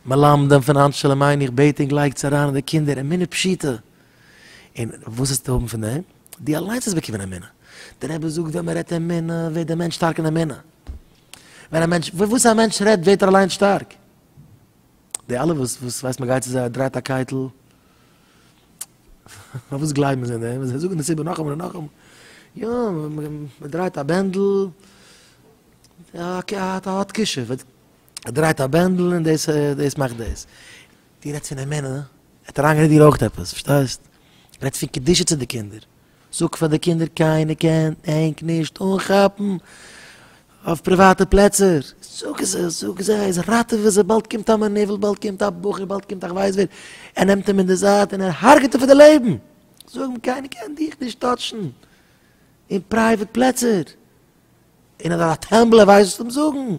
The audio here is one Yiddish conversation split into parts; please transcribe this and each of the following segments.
מלמדים פון היינט שלום עין איך בעט ענק לייגטס אריין אין די קינדער אמונה פשוטה און וואס עסטו האבן פון דעם דו אליינס האסט באקומען אמונה דער רבי זאגט ווען מען רעדט אמונה ווערט דער מענטש שטארק אין אמונה ווען א מענטש וואס א מענטש רעדט ווערט ער אליינס שטארק די אלע וואס וואס ווייסט מען גייט צו זיי דרייט א קייטל פארוואס גלייבן זיי דעם זיי זאגן דאס איבער נאכאמאל און נאכאמאל יא מען דרייט א בענדל א האט קשב ער דרייט א בענדל און דאס דאס מאכט דאס. דו רעדסט פון אמונה, ער האט אריינגערעדט דיר אויך עפעס, פארשטייסט? רעדסט פון קדושה צו די קינדער. זאג פאר די קינדער קיינער קען ענק נישט אנכאפן אויף פריוואטע פלעצער. זאג עס זאג זיי עס, ראטעווע זיי, באלד קומט א מנוול, באלד קומט א בחור, באלד קומט א כ'ווייס ווער, ער נעמט אים אין די זייט און ער הרג'עט אים פאר די לעבן. זאג אים קיינער קען דיך נישט טאטשן אין פרייוואט פלעצער. און ער האט א טעמבל ער ווייסט וואס צו זאגן,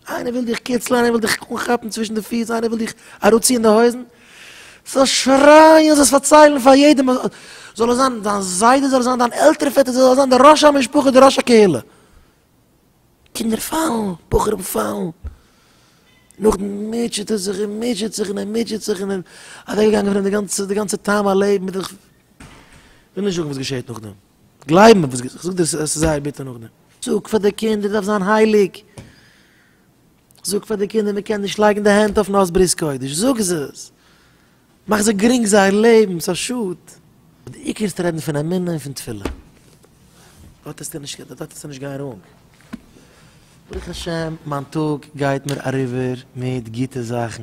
איינער וויל דיך קיצלען איינער וויל דיך אנכאפן צווישן די פיס איינער וויל דיך אראפציען די הויזן, זאלסט שרייען זאלסט פארציילן פאר יעדעם זאל עס זיין דיין זיידע זאל עס זיין דיין עלטערע פעטער זאל עס זיין די ראש המשפחה די ראש הקהילה, קינדער פאלן בחורים פאלן, נאכדעם מוטשעט ער זיך און מוטשעט זיך און ער מוטשעט זיך און אוועקגעגאנגען פון אים די גאנצע טעם הלעבן, וויל נישט זאגן וואס געשעט נאכדעם. גלייב מיר וואס כ'זאג דיר עס איז זייער ביטער נאכדעם. זאג פאר די קינדער דארף זיין הייליג, זאג פאר די קינדער מען קען נישט לייגן די הענט אויפן הויז ברית קודש, זאג עס, מאך זיי גרינג זייער לעבן, ס'איז א שאד. אבער די עיקר איז רעדן פון אמונה און פון תפילה, דארט וועסטו נישט דארט וועסטו נישט גיין ראנג. ברוך השם מיין טאג גייט מיר אריבער מיט גוטע זאכן.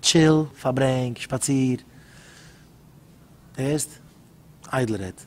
טשיל, פארברענג, שפאציר, הערסט? איידל רעדט.